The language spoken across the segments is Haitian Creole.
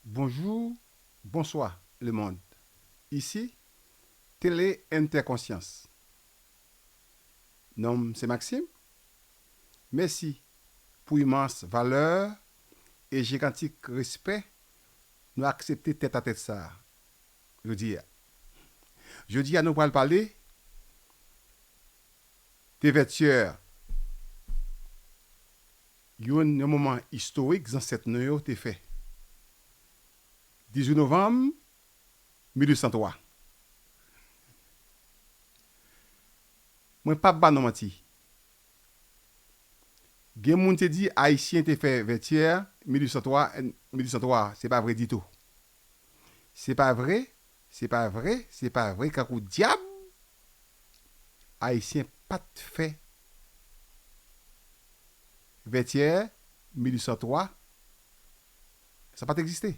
Bonjour bonswa le mond isi tele entèkonsyans non m se maksim mesi pou imans valè e jigantik respè nou aksepte tèt a tèt sa jodi a jodi a nou pral pale de vètyè Yon moman istorik zansèt nou yo te fè. 18 novanm 1803. Mwen pap ba nou manti. Gen moun te di Ayisyen te fè Vètyè 1803 1803 a. Se pa vre ditou. Se pa vre, se pa vre, se pa vre kankou dyab Ayisyen pa t fè Vètyè 1803 sa pa t egziste.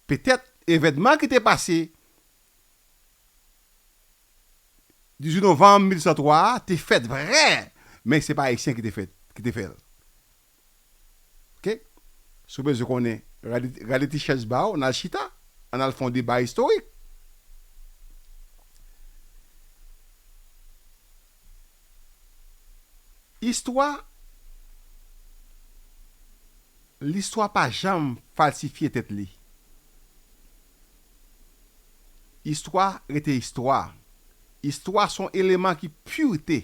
Petèt evènman ki te pase 18 novanm 1803 a te fèt vre men se pa Ayisyen ki te fè l. Ok si w bezwen konnen rale ti chèz ba w nal chita ann al fè yon deba istorik. Istwa listwa pa janm falsifye tèt li. Istwa rete istwa. Istwa son eleman ki pure.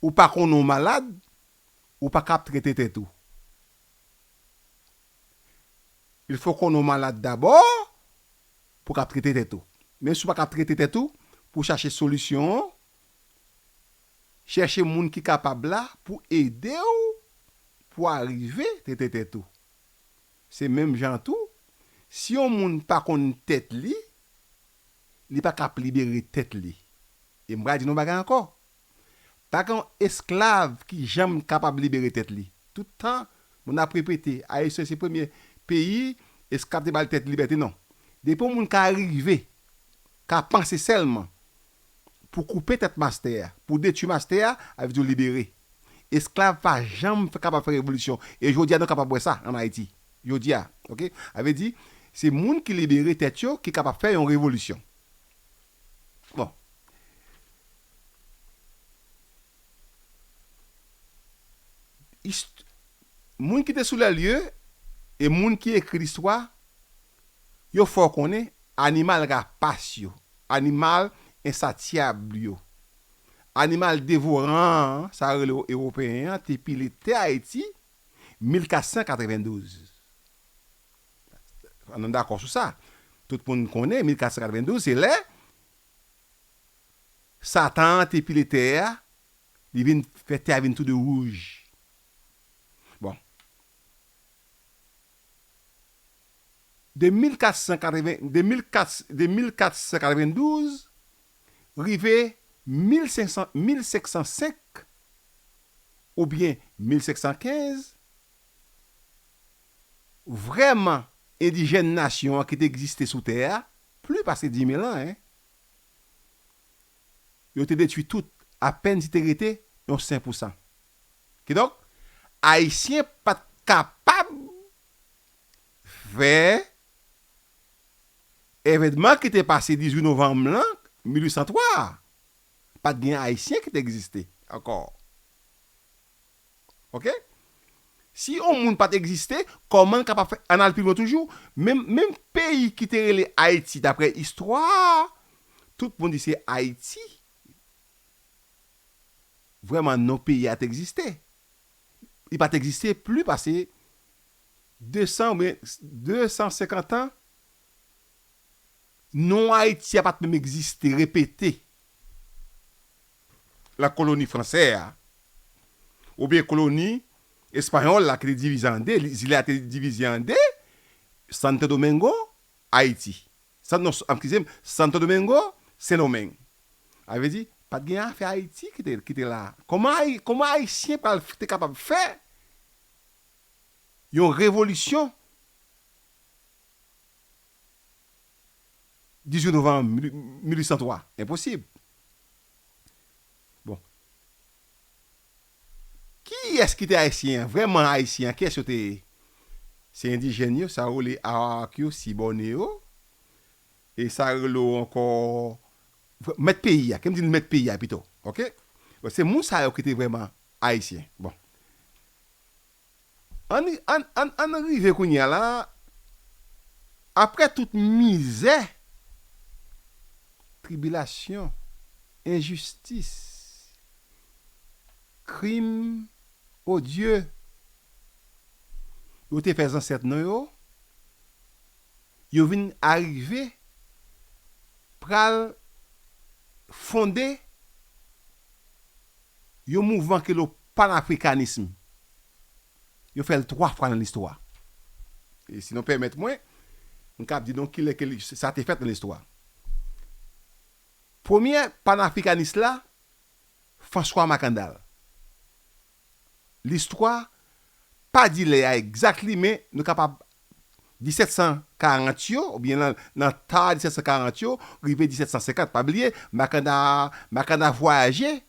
Ou pa konnen w malad, ou pa ka ap trete tèt ou. Il fò w konnen w malad dabò pou w ka ap trete tèt ou. Menm si w pa ka ap trete tèt ou, pou w chache solisyon an, chèche moun ki kapab la pou ede w pou w arive trete tèt ou. Se menm jan tou, si yon moun pa konn tèt li, li pa k'ap libere tèt li. E m pral di nou yon bagay ankò, pa gen yon esklav ki janm kapab libere tèt li. Tout tan, moun ap repete, Ayisyen se premye peyi esklav te ba li tèt li libète. Non. Depi yon moun ka rive, ka panse sèlman, pou koupe tèt mastè a, pou detui mastè a, a vle di w libere. Esklav pa janm fè kapab fè revolisyon e jodi a nou kapab wè sa an Ayiti. Jodi a, ok. A vle di, se moun ki libere tèt yo ki kapab fè yon revolisyon. Bon. Ist, moun ki te sou lè lye e moun ki ekri listwa Yo fè w konnen animal rapas yo, animal ensatyab yo, animal devoran an, sa yo rele w Ewopeyen an, te pile tè Ayiti 1492. An nou dakò sou sa. Tout moun konnen 1492 se lè Satan an te pile tè a, li vin fè tè a vin tou de wouj. Bon. De 1492 rive 1505 oubyen 1515, vrèman endijèn nasyon an ki te egziste sou tè a, pli pase dimil an, yo te detwi tout, apèn si te rete yon senpousan. Kidonk, Ayisyen pa t kapab fè evènman ki te pase 18 novanm lan, 1803 a. Pa t gen Ayisyen ki te egziste ankò. Oke? Si yon moun pa t egziste, kòman l kapab fè. An n al pi lwen toujou, menm peyi ki te rele Ayiti dapre istwa a, tout moun di se Ayiti. vrèman non peyi a t egziste. Li pa t egziste pli pase 200 oubyen 250 an, non Ayiti a pa t menm egziste, repete, lan koloni fransè a, oubyen koloni espayòl la ki te divize an de, zile a te divize an de, Santo Domingo, Ayiti. San, non, eskize m, Santo Domingo, Sendomeng. A vle di, pa t gen afè Ayiti ki te, ki te la a. Kòman Ayi, kòman Ayisyen pral te kapab fè yon revolisyon 18 novanm 1803? Enposib. Bon. Kiyès ki te Ayisyen an, vrèman Ayisyen an, kiyès yo te ye? Se endijèn yo, sa yo rele Arawak yo, Sibòne yo, e sa yo rele yo ankò, mèt peyi a, ke m di nou mèt peyi a pito, ok. Se moun sa yo ki te vrèman Ayisyen. Bon. An n rive kounye a la, apre tout mizè, tribilasyon, enjistis, krim odye yo te fè zansèt nou yo, yo vin arive pral fonde Yon mouvman ki rele panafrikanism. Yo fè l twa fwa nan listwa. E si nou pèmèt mwen, m kab di nou ki lè ke li, sa te fèt nan listwa. Premye panafrikanis la, François Makandal. Listwa pa di lè a egzat li men nou kapab 1740 yo, oubyen nan nan ta 1740 yo, rive 1750, pa bliye, Makanda a, Makanda vwayaje,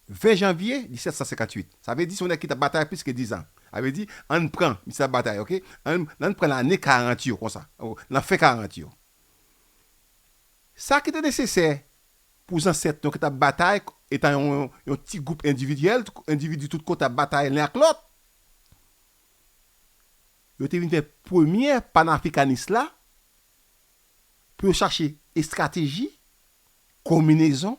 20 janvye 1758. Sa vle di se yon nèg ki t ap batay plis ke dizan. A vle di, ann pran, misye t ap batay ok, ann nan pran lane 40 yo konsa, nan fen 40 yo. Sa ki te nesesè pou zansèt nou ki t ap batay etan yon yon ti gwoup endividyèl, endividu tout kote ap batay len ak lòt, Yo te vin fè premyè panafrikanis la pou yo chache estrateji, konminezon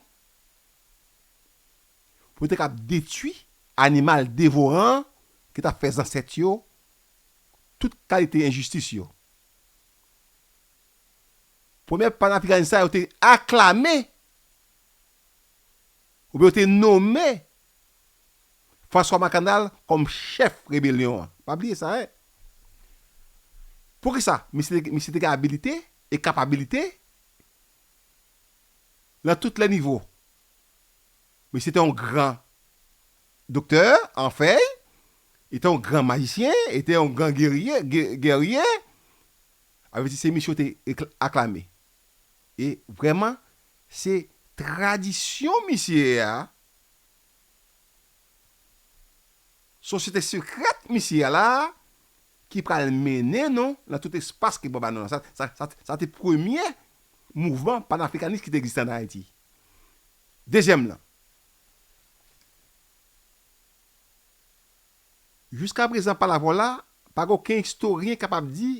pou yo te kab detui animal devoran an ki t ap fè zansèt yo tout kalite enjistis yo. Premyè panafrikanis sa yo te aklame. Oubyen yo te nome François Mackandal kòm chèf rebelyon an. Pa bliye sa hein. Poukisa? Misye te gen abilite e kapabilite lan tout lè nivo. Misye te yon gran doktè an fèy, li te yon gran majisyen, li te yon gran gerye, guerrier, avèdye se misye yo te aklame. E vrèman se tradisyon misye a, sosyete sekrèt misye a la a ki pral mennen nou nan tout espas ke Bòb a nou la. Sa te premye mouvman panafrikanis ki te egziste ann Ayiti. Dezyèm lan, jiskaprezan pa lavwòl la, pa gen oken istoryen kapab di,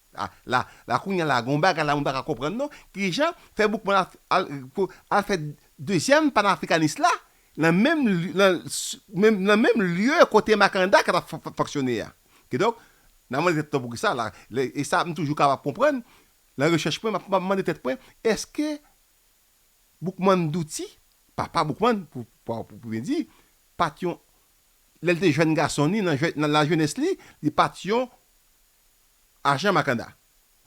Ah la la kounya la gon bagay la mwen paka konprann non kijan fè boukman al al pou al fè dezyèm panafrikanis la nan menm lye nan menm nan menm lye kote makanda ka tap fonksyone a kidonk nan mande tèt nou poukisa la lè e sa m toujou ka pa konprann nan rechèch mwen map mande tèt mwen eske boukman douti papa boukman pou pa pou byen di pat yon lèl te jèn gason ni nan jè nan lajenès li li pat yon. ajan Makanda.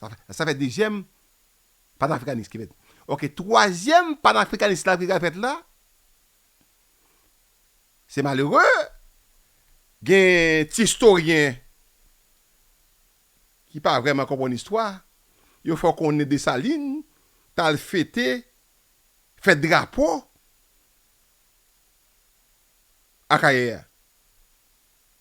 Sa fè dezyèm panafrikanis ki fèt. Ok, twazyèm panafrikanis la ki pral fèt la, se malere, gen ti istoryen ki pa vrèman konprann istwa, yo fè w konnen Desalin t al fete fèt drapo Akayè a.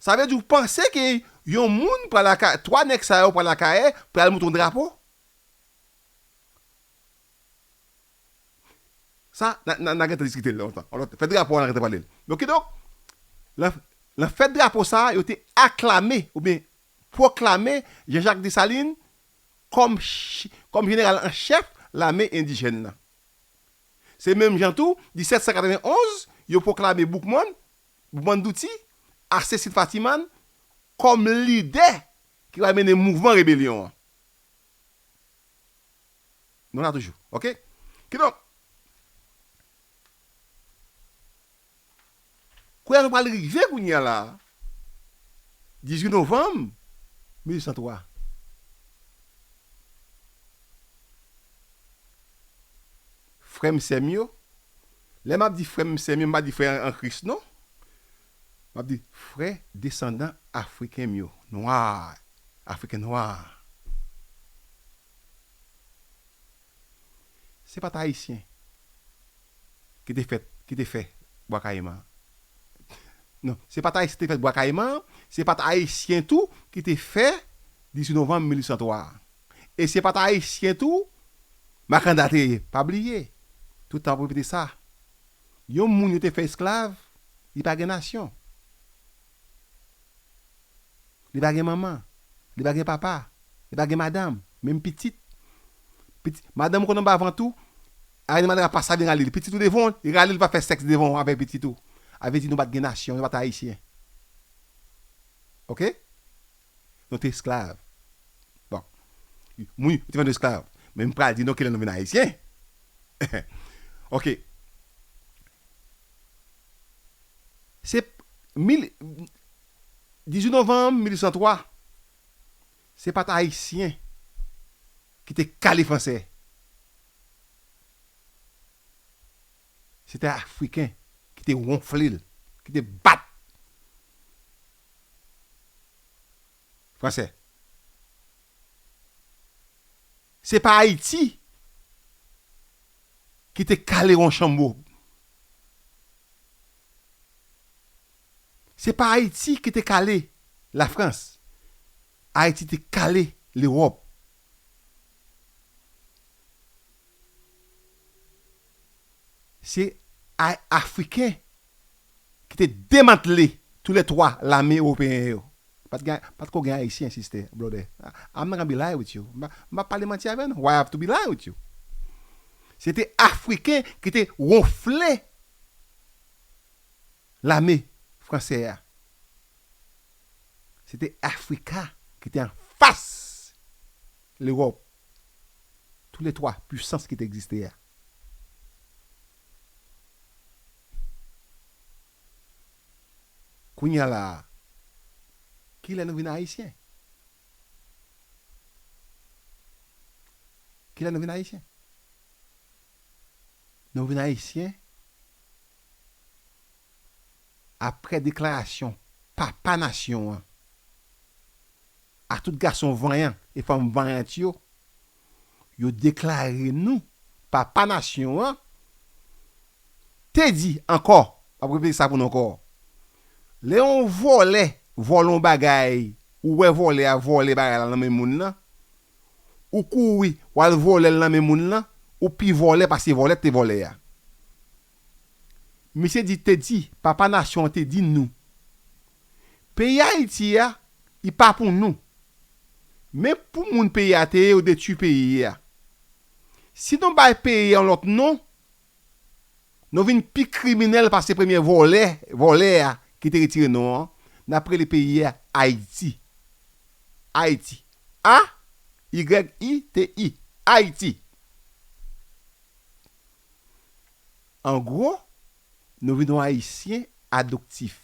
Sa vle di ou panse ke yon moun pral ak 3 nèg sa yo pral Akayè pou yal monte yon drapo? Sa na gentan diskite l lontan. Fèt drapo a na gentan pale l. Donk kidonk, nan fèt drapo sa yo te aklame oubyen pwoklame Jean Jacques Dessalines kòm jeneral an chèf lame endijèn nan. Se menm jan tou 1791 yo pwoklame Boukman Boukman Douti ak Cécile Fatiman kòm lidè ki pral mennen mouvman rebelyon an. Nou la toujou. Ok. Kidonk, koulè nou pral rive kounye a la a, 18 novanm 1803, frè m, sè m yo, Lè m ap di frè m, sè m yo, m pa di frè an Kris non. M ap di frè desandan Afriken m yo, nwa, Afriken nwa. Se pa t Ayisyen ki te fèt, ki te fè Bwa Kayiman an. Non, se pa t Ayisyen ki te fèt Bwa Kayiman an, se pa t Ayisyen tou ki te fè 18 novanm 1803 a. E se pa t Ayisyen tou. Makanda te pa bliye, tout tan ap repete sa, yon moun yo te fè esklav, li pa gen nasyon. Li pa gen manman, li pa gen papa, li pa gen madanm, menm pitit. Pitit, madanm ou konn anba vant ou, Ariel Madra pa sa vin rale li. Pitit ou devan ou, li rale li pa fè sèks devan ou avèk pitit ou. A vle di nou pa t gen nasyon, nou pa t ayisyen. Ok? Nou te esklav. Bon. Wi, nou te vann esklav. Men m pral di nou kilè nou vin Ayisyen. Ok. Se 18 novanm 1803, se pa t Ayisyen ki te kale Franse. Se te Afriken ki te wonfle l, ki te bat. Français. Se pa Ayiti ki te kale Ronchambeau. Se pa Ayiti ki te kale la France. Ayiti te kale l'Europe. Se Africain ki te demantle tou lè 3 lame ewopeyen yo. Pat gen, pat ko gen Ayisyen siste, blòdè. I'm not gonna be lying with you. M pap pale manti avè nou. Why I have to be lying with you? Se te Afriken ki te wonfle lame franse a. Se te Afrika ki te anfas Lewòp, tou lè 3 pwisans ki te egziste a. Kounya la a, kilè nou vin ayisyen? Kilè nou vin ayisyen? Nou vin ayisyen aprè deklarasyon papa nasyon an a tout gason vanyan e fanm vanyant yo. yo deklare nou papa nasyon an te di ankò, m ap repete sa pou nou ankò, lè yon vòlè vòlè yon bagay, ou wè vòlè a vòlè bagay la nan men moun lan, ou kouri w al vòlè l nan men moun lan, ou pi vòlè pase vòlè k te vòlè a. Misye di te di papa nasyon an te di nou peyi ayiti a li pa pou nou men pou moun peyi a te ye yo detwi peyi a si nou bay peyi yon lòt non nou vin pi kriminèl pase premye vòlè vòlè a ki te retire non an nap rele peyi a ayiti ayiti a y i t i ayiti. An gwo, nou vin yon Ayisyen adoptif.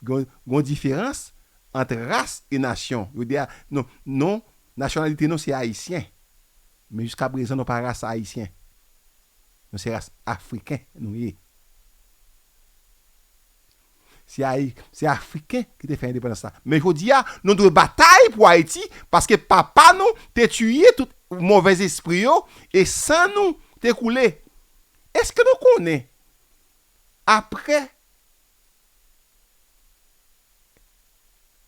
Gen yon diferans ant ras e nasyon. Yo di a, non, non, nasyonalite nou se Ayisyen. Men jiska prezan nou pa ras Ayisyen. Nou se ras Afriken nou ye. Se Afriken ki te fè endepandans la. Men jodi a, nou dwe batay pou Ayiti paske papa nou te tiye tout movèzespri yo e san nou te koule. Eske nou konnen apre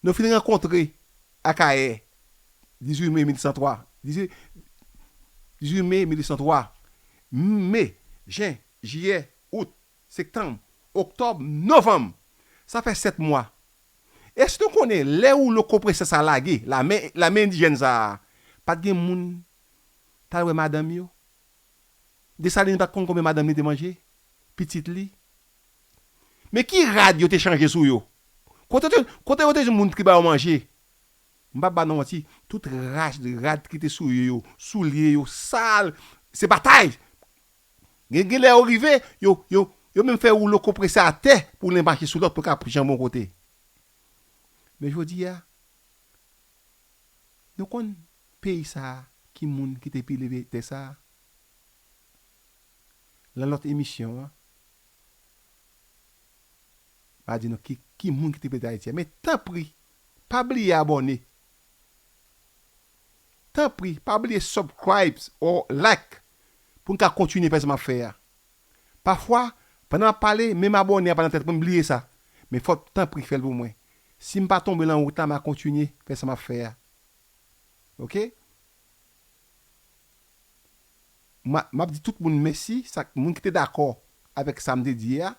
nou fin rankontre Akayè 18 me 1803, 18 me 1803, me, jen, jiyè, out, Sektanm, Oktòb, Novanm! Sa fè 7 mwa. Èske nou konnen lè woulo konpresè sa a lage, lame, lame endijèn sa a pa t gen moun t al wè madanm yo? Desalin pa t konn konbyen madanm li te manje? Pitit li? Men ki rad yo te chanje sou yo? Kote yo te, kote yo te jwenn moun ki ba yo manje? M p ap ba nou manti, tout rad, rad ki te sou yo yo, soulye yo sal, se batay! Gen gen lè yo rive, yo, yo, yo menm fè woulo konprese atè pou len mache sou lòt pou l ka pran janbon kote. Men jodi a, nou konn peyi sa a ki moun ki te pile vye tè sa a? Lan lòt emisyon an, m'a di nou ki, ki moun ki te pile tè Ayiti a. Men tanpri, pa bliye abòne. Tanpri pa bliye subcribe or like pou n ka kontinye fè sa map fè a. Pafwa pandan map pale menm abòne a pa nan tèt mwen m bliye sa men fò tanpri fèl pou mwen sim pa tonbe lan wout la ma kontinye fè sa map fè a ok. Map di tout moun mèsi sak moun ki te dakò avèk sam te di a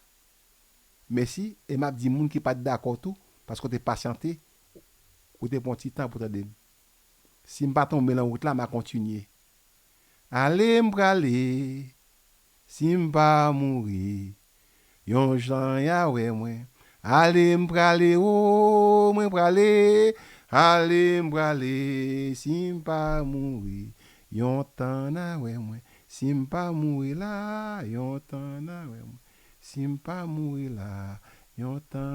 mèsi e map di moun ki pat dakò tou paske w te pasyante Ou te pran ti tan pou tande m. Si m pa tonbe lan wout la, m a kontinye. Ale m prale, si m pa mouri, yon jan y a wè mwen. Ale m prale o, mwen prale, ale m prale, si m pa mouri, yon tan n a wè mwen. Si m pa mouri la, yon tan n a wè mwen. Si m pa mouri la, yon tan.